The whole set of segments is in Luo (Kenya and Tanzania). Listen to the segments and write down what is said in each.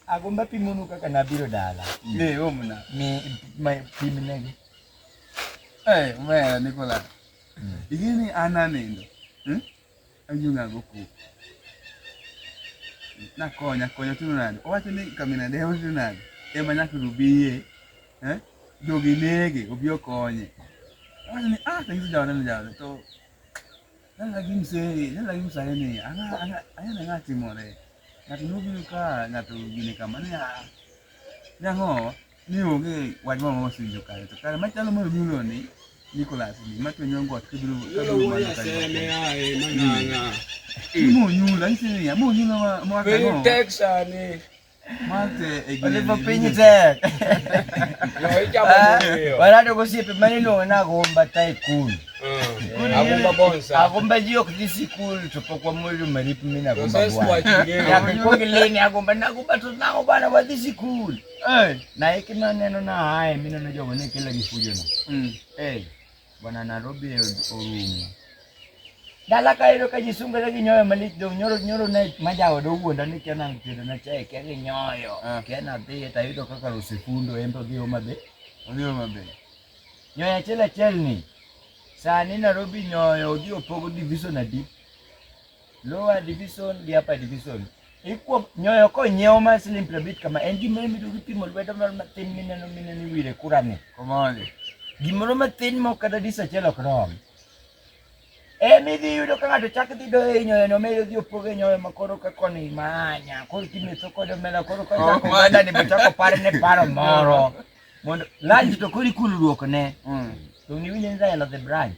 agomba pimonu kaka nabiro dala eh, omna pimnegi eh, omera nikola hmm. ing'eni an anendo hmm? anyung'ago kuku nakonya konya tino nade owacho ni kamina dewo tino nade ema nyaka rubiye eh? jogi nege obi okonye owacho ni ah tanyiso jaode ni jaode to Nang'agi msee, nang'agi msee ni, ang'a ang'a ang'a nang'a timore. Ng'ato nobiro ka ng'ato gini kama ni ah. Nang'o ni onge wach moro mosinjo kare to kare machalo moro nyulo ni Nicholas ni macho nyongo atibiro kabiro mana kare. Ni mo nyulo, ni sini ya mo nyulo ma mo akano. Texas ni. Oliver Piny tek. Barado gosiepe mane iluongo ni Agumba Tycoon. Agumba Bonsa. Agumba ji ok dhi sikul to pok wamwelo marip mi na Agumba bwana. Nyaka ikwong ileni Agumba na Agumba to nang'o bwana wadhi sikul. Na hiki maneno na haya mi neno jogo ne kila gifujono. Bwana Nairobi orumo. Dala ka ero ka jisungore gi nyoyo malit dong nyoro nyoro ne majawa do wuonda ni kena mtedo na chai ke gi nyoyo. Ah. Kena dhi ta yudo kaka rusifundo embe dhi homa be. Odhi homa be. Nyoyo achiel achiel ni sani Nairobi nyoyo odhi opogo division adi? lower division gi upper division ikuom nyoyo konyiewo ma siling piero abich kama en gimoro mido gipimo lwedo moro matin mineno mineno iwire kurani Komoli. gimoro matin ma kata dis achiel ok rom emi idhi yudo ka ng'ato chak dhi doyo e nyoyono medo dhi opogo e nyoyo ma koro ka koni manya koro kimetho kod omena koro ka Oh, chako man. ogandani be chako parne paro moro mondo lanj to koro ikulruok ne Mm. to niwinjo ni dahelo the branch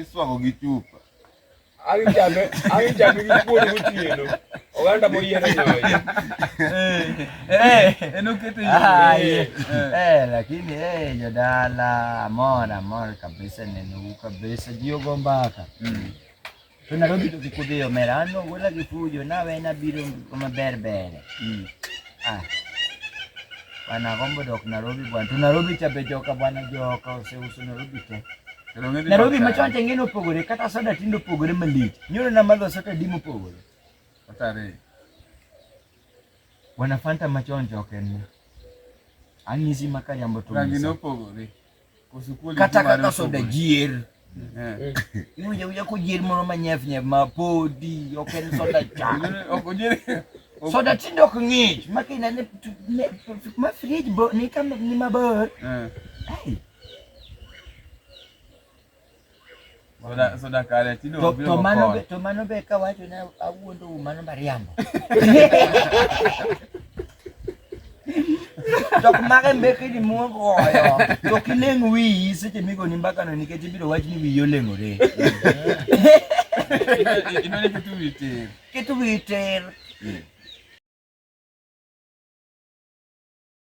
Iswago gi chupa. Ang' chame, ang' chame gi kuon gotieno. Oganda moyiero nyoyo. Eh, en okete yo. Ah, eh, eh, lakini eh, jodala amor amor kabisa neno u kabisa jio go mbaka To Nairobi to kik udhi omera, an ogwela gi fujo, nawe nabiro kama ber ber. Mm. Ah. Bwana agombo dok Nairobi bwana. To Nairobi cha be joka bwana joka oseuso Nairobi te. Nairobi machon cha ng'eno opogore kata soda tindo opogore malich. Nyoro na madho soda dimo opogore. Otare. Bwana Fanta machon joka en. Ang'isi makariambo to. Rangi no opogore. kata kaka soda jier eh. iwinja winja kojier moro manyef nyef ma podi ok en soda cha soda tinde ok ng'ich ma kinene ma frij ni mabor eh. Soda soda kare tino to, to mano be to mano be ka wacho na awuondo u mano mariambo. Jok mage mbeki ni muogo oyo. To kileng wiyi seche migo ni mbaka no nikech ibiro wach ni wiyi oleng'ore. Ino ni kitu witir. Kitu witir.